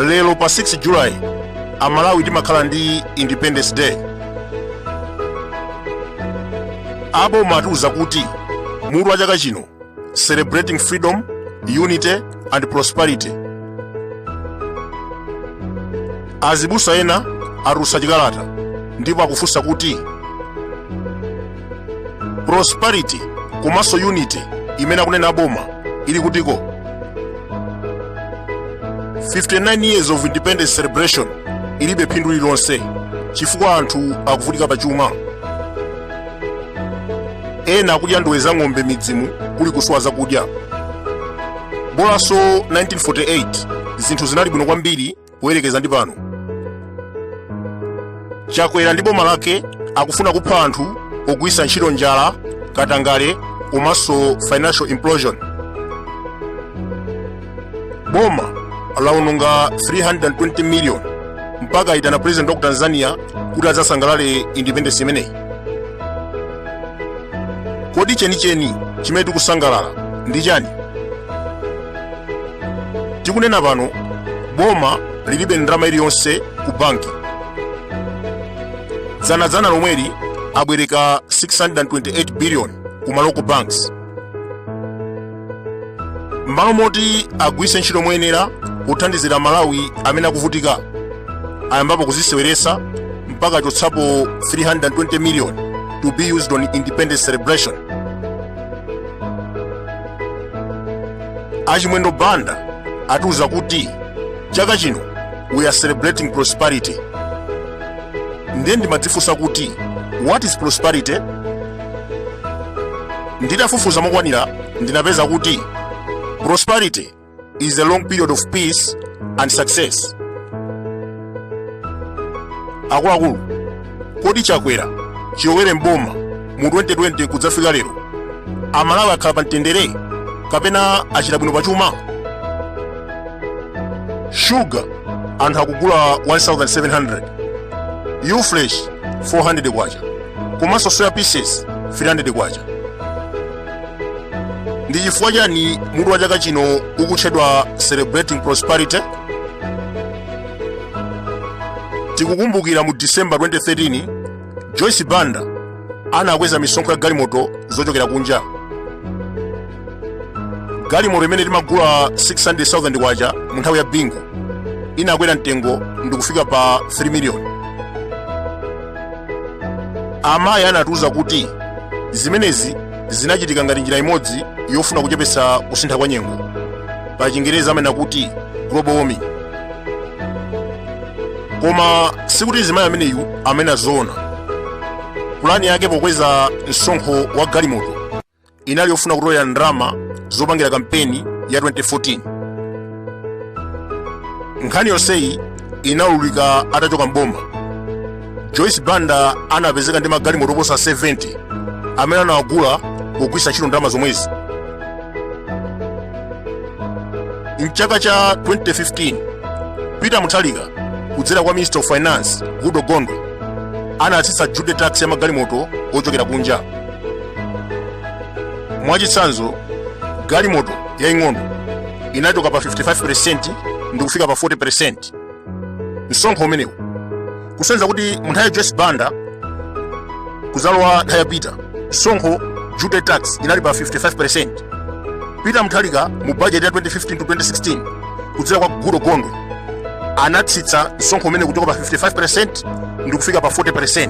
lero pa 6 july amalawi timakhala ndi independence day aboma atiuza kuti mutu wa chaka chino celebrating freedom, unity and prosperity. Azibusa ena atulutsa chikalata ndipo akufunsa kuti prosperity komanso unity imene akunena aboma ili kutiko 59 years of independence celebration ilibe phindu lililonse chifukwa anthu akuvutika pa chuma ena akudya ndowe za ng'ombe m'midzimu kuli kusowa zakudya bolanso 1948 zinthu zinali bwino kwambiri kuyerekeza ndi pano chakwera ndi boma lake akufuna kupha anthu pogwitsa ntchito njala katangale komanso financial implosion boma lawononga 320 million mpaka itana president wa ku tanzania kuti adzasangalale independence imeneyi kodi chenicheni chimene tikusangalala ndi chani tikunena pano boma lilibe ndalama iliyonse ku banki dzanadzana lomweli abwereka 628 billion ku ma local banks m'malo moti agwiritse ntchito moyenera kuthandizira amalawi amene akuvutika ayambapo kuziseweretsa mpaka chotsapo 320 million to be used on independence celebration achimwendo banda atiuza kuti chaka chino we are celebrating prosperity ndiye ndimadzifunsa kuti what is prosperity nditafufuza mokwanira ndinapeza kuti prosperity is a long period of peace and success akuluakulu kodi chakwera chilowere m'boma mu 2020 kudzafika lero amalawi akhala pa mtendere kapena achita bwino pachuma shuga anthu akugula 1700 ufresh 400 kwacha komanso soya pieces 300 kwacha ndi chifukwa chani mutu wa chaka chino ukutchedwa celebrating prosperity tikukumbukira mu december 2013 joyce banda anakweza misonkho ya galimoto zochokera kunja galimoto imene timagula 600,000 kwacha mu nthawi ya bingu inakwera mtengo ndikufika pa 3 miliyoni amayi anatiuza kuti zimenezi zinachitika ngati njira imodzi yofuna kuchepetsa kusintha kwa nyengo pa chingerezi amanena kuti global warming koma sikuti mzimayi ameneyu amanena zoona pulani yake pokweza msonkho wa galimoto inali yofuna kutolela ndalama zopangira kampeni ya 2014 nkhani yonseyi inaululika atachoka mboma joyce banda anapezeka ndi magalimoto oposa 70 amene anawagula pogwiritsa ntchito ndalama zomwezi mchaka cha 2015 peter mutharika kudzera kwa minister of finance goodall gondwe anatsitsa duty tax ya magalimoto ochokera kunja mwachitsanzo galimoto yaing'ono inachoka pa 55% ndi kufika pa 40% msonkho umenewu kusonyeza kuti munthawi ya joyce banda kuzalowa nthawi ya peter msonkho duty tax inali pa 55% peter mutharika mu bajeti ya 2015 to 2016 kudzera kwa goodall gondwe anatsitsa msonkho umenewu kuchoka pa 55% ndi kufika pa 40%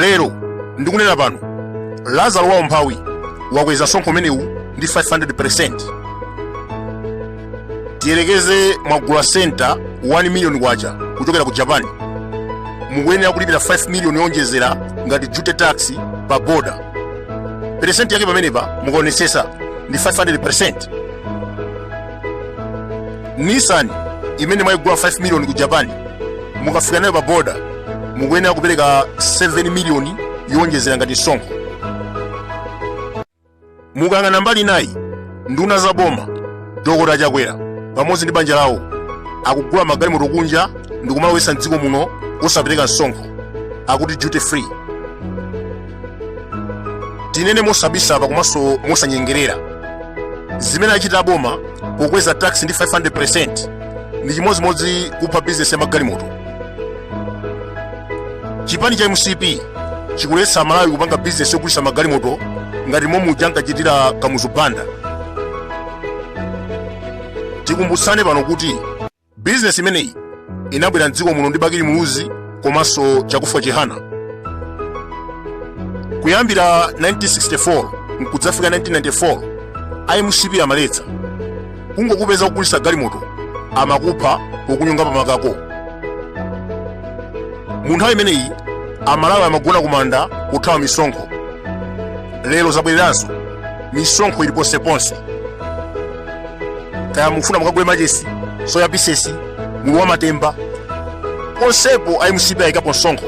lero ndikunena pano lazaro wa umphawi wakweza msonkho umenewu ndi 500% tiyerekeze mwagula sienta 1 miliyoni kwacha kuchokera ku japan mukuyenera kulipira 5 miliyoni yoonjezera ngati duty tax pa boda peresenti yake pamenepa mukaonetsetsa ndi 500% nissan imene mwayigula 5 miliyoni ku japan mukafika nayo pa boda mukuyenera kupereka 7 miliyoni yowonjezera ngati msonkho mukayang'ana mbali inayi nduna za boma dokota chakwera pamodzi ndi banja lawo akugula magalimoto kunja ndi kumalowetsa mdziko muno osapereka msonkho akuti duty free tinene mosabisa apa komanso mosanyengerera zimene achita aboma pokweza tax ndi 500% ndi chimodzimodzi kupha bizinesi ya magalimoto chipani cha mcp chikuletsa amalawi kupanga bizinesi yogulitsa magalimoto ngati momwe uja ankachitira kamuzu banda tikumbutsane pano kuti bizinesi imeneyi inabwera mdziko muno ndi bakili muluzi komanso chakufwa chihana kuyambira 1964 nkudzafika 1994 a mcp amaletsa kungokupeza ukugulisa galimoto amakupha pokunyonga pa makako mu nthawi imeneyi amalawi amagona kumanda kuthawa misonkho lero zabwereranso misonkho ili ponseponse kaya mufuna mukagule machesi soya pisesi mulu wa matemba ponsepo a mcp ayikapo msonkho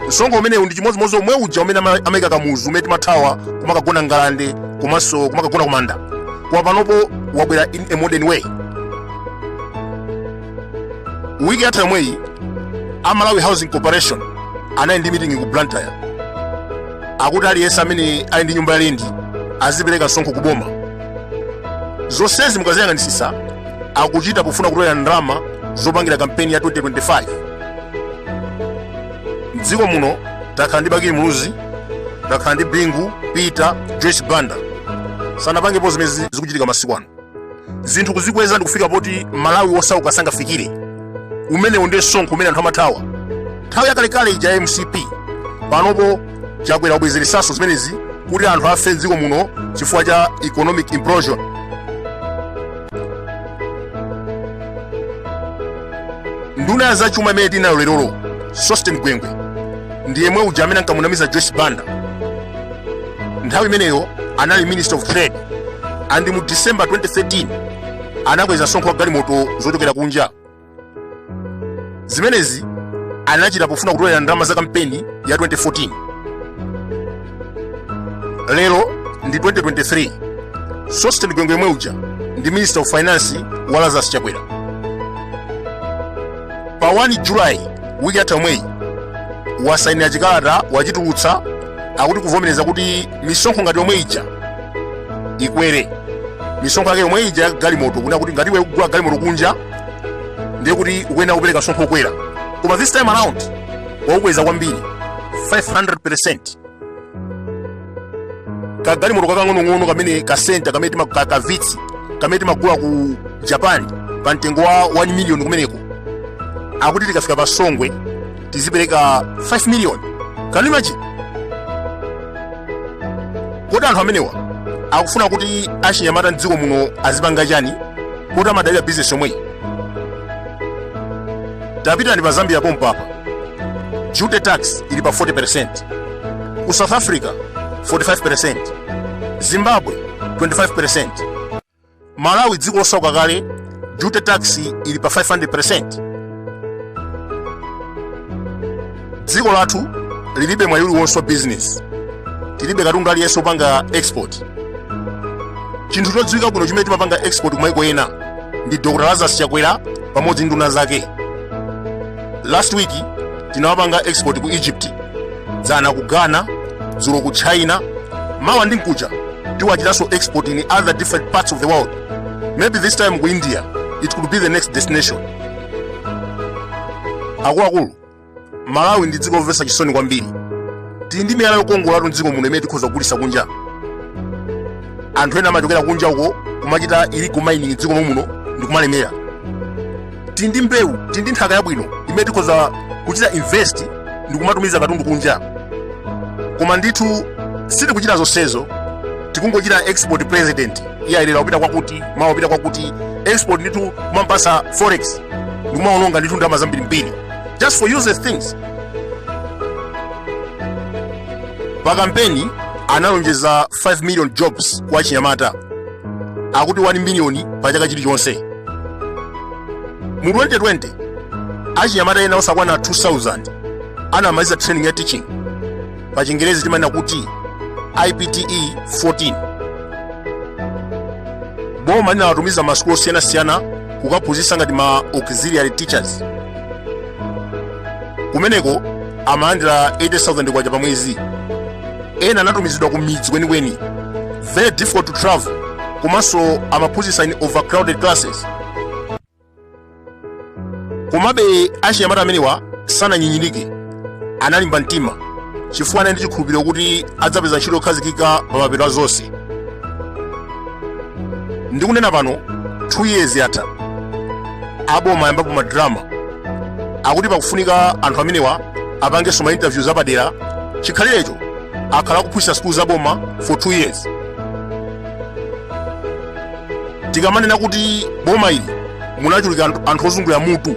msonkho umenewu ndi chimodzimodzi omwe uja umene amayika kamuzu umene timathawa kumakagona ngalande komanso kumakagona kumanda koma panopo wabwera in a modern way wiki yatha yomweyi a malawi housing corporation anali ndi meeting ku blantyre akuti aliyense amene ali ndi nyumba ya lendi azipereka msonkho ku boma zonsezi mukaziyang'anisisa akuchita pofuna kutolera ndalama zopangira kampeni ya 2025 mdziko muno takhala ndi bakili muluzi takhala ndi bingu peter joyce banda sanapangepo zimene zikuchitika masiku ano zinthu kuzikweza ndi kufika poti mmalawi wosauka sangafikire umenewu ndiye msonkho umene anthu amathawa nthawi yakalekale ija ya mcp panopo chakwera wabwezeresaso zimenezi kuti anthu afe mdziko muno chifukwa cha economic implosion nduna ya zachuma imene tinayo lerolo sosten gwengwe ndi yemwe uja amene ankamunamiza joyce banda nthawi imeneyo anali minister of trade and mu december 2013 anakweza msonkho wa galimoto zochokera kunja zimenezi anachita pofuna kutolera ndalama za kampeni ya 2014 lero ndi 2023 sosten gwengwe yemwe uja ndi minister of finance wa lazarus chakwera pa 1 julayi wiki yatha yomweyi wasainira chikalata wachitulutsa akuti kuvomereza kuti misonkho ngati yomwe ija ikwere misonkho yake yomwe ija ya galimoto kunena kuti ngati iwe ukugula galimoto kunja ndiye kuti ukuyenera kupereka msonkho wokwera koma this time around waukweza kwambiri 500% kagalimoto kakang'onong'ono kamene ka sienta kamene ka vitz kamene timagula ku japan pa mtengo wa 1 million kumeneko akuti tikafika pa songwe tizipereka 5 million can you imagine kodi anthu amenewa akufuna kuti achinyamata mdziko muno azipanga chani poti amadalira business yomweyi tapitani pa zambia pompa apa duty tax ili pa 40% ku south africa 45% zimbabwe 25% malawi dziko losauka kale duty tax ili pa 500 percent dziko lathu lilibe mwayi uliwonse wa business tilibe katundu aliyense opanga export chinthu chodziwika bwino chimene timapanga export kumaiko ena ndi dr lazarus chakwera pamodzi ndi nduna zake last week tinawapanga export ku egypt dzana ku ghana dzulo ku china mawa ndi mkucha tiwachitanso export in other different parts of the world maybe this time ku india it could be the next destination akuluakulu malawi ndi dziko lomvetsa chisoni kwambiri tili ndi miyala yokongolatu mdziko muno imene tikhoza kugulitsa kunja anthu ena amachokera kunja uko kumachita illegal mining mdziko muno ndikumalemera tili ndi mbewu tili ndi nthaka yabwino imene tikhoza kuchita invest ndi kumatumiza katundu kunja koma ndithu sitikuchita zonsezo tikungochita export president iye ayi lero kupita kwakuti mawa kupita kwakuti export ndithu kumampatsa forex ndikumaononga ndithu ndalama zambirimbiri just for useless things pa kampeni analonjeza 5 million jobs kwa achinyamata akuti 1 miliyoni pa chaka chilichonse mu 2020 achinyamata ena osakwana 2000 anamaliza training ya teaching pa chingerezi timanena kuti ipte 14 boma linawatumiza m'masukulu osiyanasiyana kukaphunzitsa ngati ma auxiliary teachers kumeneko amalandira 80000 kwacha pa mwezi ena anatumizidwa ku midzi kwenikweni very difficult to travel komanso amaphunzitsa in overcrowded classes komabe achinyamata amenewa sananyinyirike analimba mtima chifukwa anali ndi chikhulupiriro kuti adzapeza ntchito yokhazikika pa mapeto a zonse ndikunena pano 2 years yatha aboma ayambapo madrama akuti pakufunika anthu amenewa apangenso ma interviews apadera chikhalirecho akhala akuphunzitsa sukulu za boma for 2 years tikamanena kuti boma ili munachuluka anthu ozungulira mutu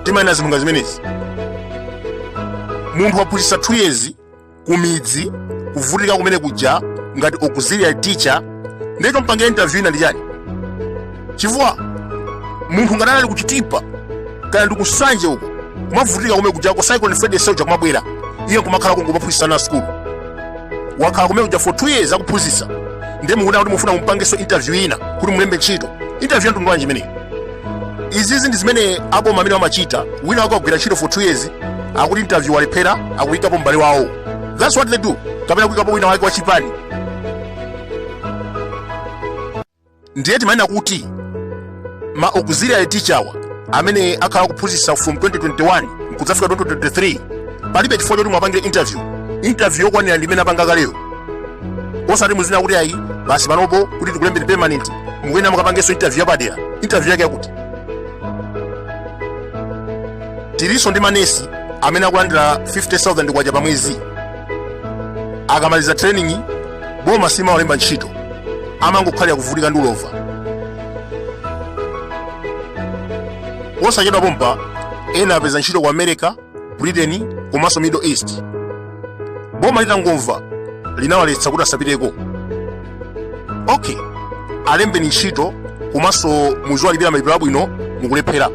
timanena zinthu ngati zimenezi munthu waphunzitsa 2 years kumidzi kuvutika kumene kuja ngati auxiliary teacher ndiye chompangira interview ina ndi chani chifukwa munthu ngati anali ku chitipa kana ndi ku nsanje uko kumavutika kumene kujako cyclone freddy soja kumabwera iye kumakhala kungomaphunzitsa ana sukulu wakhala kumene kuja for two years akuphunzitsa ndiye mukuona kuti mufuna mumpangenso interview ina kuti mulembe ntchito interview ya mtundu wanji imeneyi izizi ndi zimene aboma amenewa amachita wina wake wagwira ntchito for two years akuti interview walephera akuyikapo m'bale wawo that's what they do kapena kuyikapo wina wake wachipani ndiye timanena kuti ma auxiliary teacherwa amene akhala akuphunzitsa from 2021 nkudzafika 2023 palibe chifukwa choti mwapangire interview interview yokwanira ndi imene apanga kaleyo osati muzinena kuti ayi basi panopo kuti tikulembeni permanent mukuyenera mukapangenso interview yapadera interview yake yakuti tilinso ndi manesi amene akulandira 50000 kwacha pa mwezi akamaliza training boma simawalemba ntchito amangokhalira kuvutika ndi ulova posachedwa pompa ena apeza ntchito ku america britain komanso middle east boma litangomva linawaletsa kuti asapiteko okay alembeni ntchito komanso muziwalipira malipiro abwino mukulephera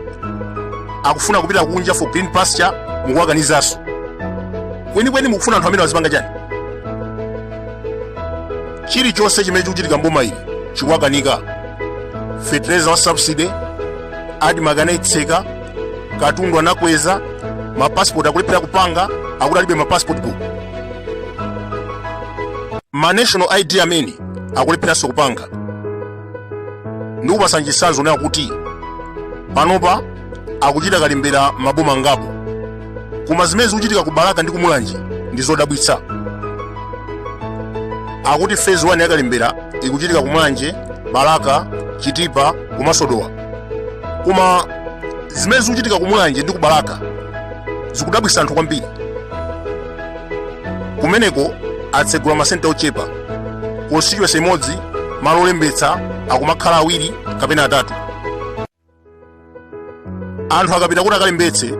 akufuna kupita kunja for green pasture mukuwakanizanso kwenikweni mukufuna anthu amene azipanga chani chilichonse chimene chikuchitika mboma ili chikuwakanika fetereza wa subsidy admarc anaitseka katundu anakweza mapasipoti akulephera kupanga akuti alibe mapasipoti buku ma national id amene akulepheranso kupanga ndikupaseni chisanzo nayo kuti panopa akuchita kalembera maboma angapo koma zimene zikuchitika ku balaka ndi kumulanje ndi zodabwitsa akuti phase 1 yakalembera ikuchitika kumulanje balaka chitipa komanso dowa koma zimene zikuchitika ku mulanje ndi ku balaka zikudabwisa anthu kwambiri kumeneko atsegula masenta ochepa constituency imodzi malo olembetsa akumakhala awiri kapena atatu anthu akapita kuti akalembetse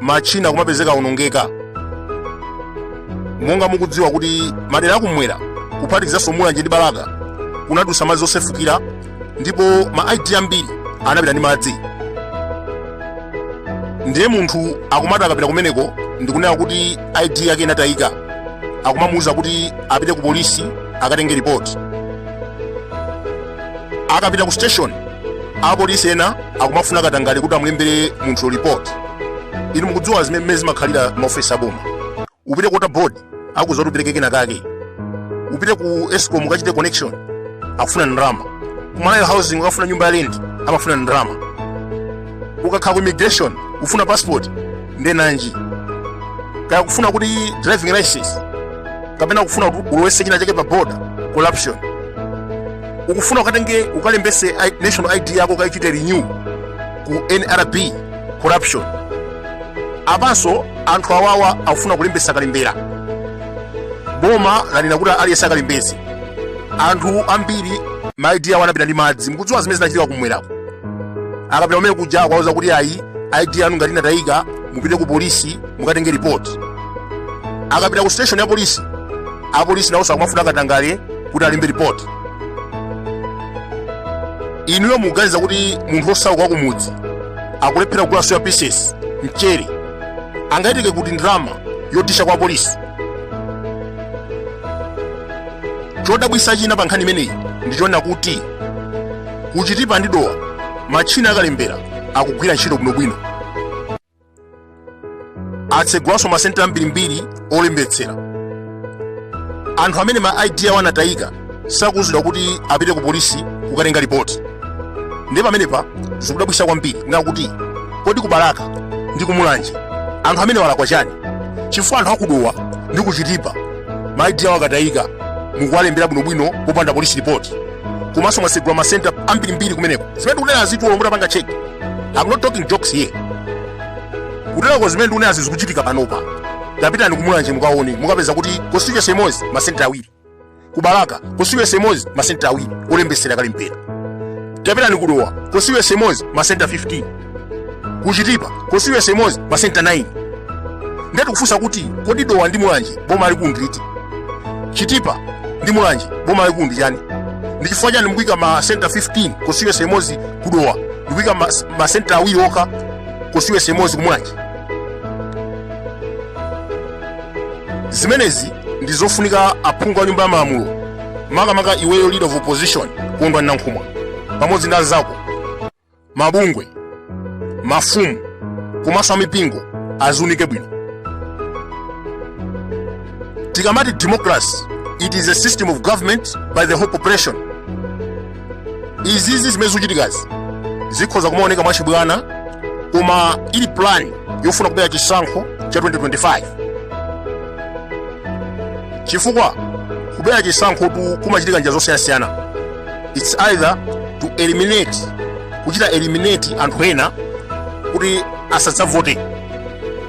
matchina akumapezeka aonongeka monga mukudziwa kuti madera akumwera kuphatikizanso mulanje ndi balaka kunadusa madzi osefukira ndipo ma id ambiri anapita ndi madzi ndiye munthu akumati akapita kumeneko ndikunena kuti id yake inatayika akumamuwuza kuti apite ku polisi akatenge ripoti akapita ku station apolisi ena akumafuna katangale kuti amulembere munthu report inu mukudziwa zimene zimakhalira mmaofesi aboma upite ku water board akuuza kuti upereke kena kake upite ku escom ukachite connection akufuna ndalama ku malawi housing ukafuna nyumba ya lendi amafuna ndalama ukakhala ku immigration ufuna passport nde nanji kaya kufuna kuti driving license kapena kufuna ulowese china chake pa border corruption ukufuna ukatenge ukalembese national id yako ukaichite renew ku nrb corruption apanso anthu awawa akufuna kulembesa kalembera boma lanena kuti aliyense akalembese anthu ambiri ma id awo anapita ndi madzi mukudziwa zimene zinachitika kumwerako akapita kumene kuja akuwauza kuti ayi id yanu ngati inatayika mupite ku polisi mukatenge report akapita ku station ya polisi apolisi nawonso akumafuna katangale kuti alembe report inuyo muganiza kuti munthu osauka kwa kumudzi akulephera kugula soya pieces mchere angayitenge kuti ndalama yodisha kwa polisi chodabwitsa china pa nkhani imeneyi ndi chonena kuti kuchitipa ndi dowa matchina akalembera akugwira ntchito bwinobwino atsegulanso masenta ambirimbiri olembetsera anthu amene ma id awo anatayika sakuuzidwa kuti apite ku polisi kukatenga ripoti ndiye pamenepa zikudabwitsa kwambiri kunena kuti kodi kubalaka ndi kumulanje anthu amenewa alakwa chani chifukwa anthu akudowa ndi kuchitipa ma id awo akatayika mukuwalembera bwinobwino popanda polisi ripoti komanso mwatsegula masenta ambirimbiri kumeneko zimene tikunenazi tuluwo mutapanga cheki I'm not talking jokes here. Kutelako zimene ndikunenazi zikuchitika panopa. Tapitani kumulanje mukaone, mukapeza kuti constituency imodzi masenta awiri. Kubalaka constituency imodzi masenta awiri olembesera kalembera. Tapitani kudowa constituency imodzi masenta 15. Kuchitipa constituency imodzi masenta 9. Nde tikufunsa kuti kodi dowa ndi mulanje boma lalikulu ndi liti chitipa ndi mulanje boma lalikulu ndi chani ndi chifukwa chani mukuyika ma center 15 constituency imodzi kudowa ndikuyika ma, ma center awiri okha constituency imodzi kumulanje zimenezi ndi zofunika aphungu a nyumba ya malamulo makamaka iweyo leader of opposition kondwa nankhumwa pamodzi ndi anzako mabungwe mafumu komanso amipingo aziunike bwino tikamati democracy it is a system of government by the whole population izizi zimene zikuchitikazi zikhoza kumaoneka mwachibwana koma ili plan yofuna kubera chisankho cha 2025 chifukwa kubera chisankho tu kumachitika njira zosiyanasiyana its either to eliminate kuchita eliminate anthu ena kuti asadzavote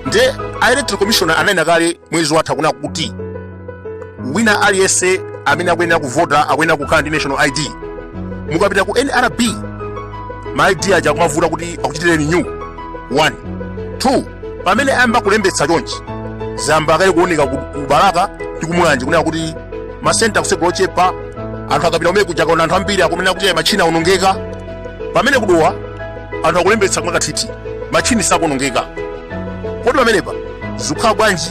nde a electoral commission ananena kale mwezi watha kunena kuti wina aliyense amene akuyenera kuvota akuyenera kukhala ndi national id mukapita ku nrb ma id aja akumavuta kuti akuchitire renew one two pamene ayamba kulembetsa chonchi zayamba kale kuoneka ku ku balaka ndi kumulanje kunena kuti masenta kusegula ochepa anthu akapita kumene kuja kaona anthu ambiri akunena kuti "Ayi, matchini aonongeka pamene kudowa anthu akulembetsa mwakathithi matchini sakuonongeka kodi pamenepa zikukhala bwanji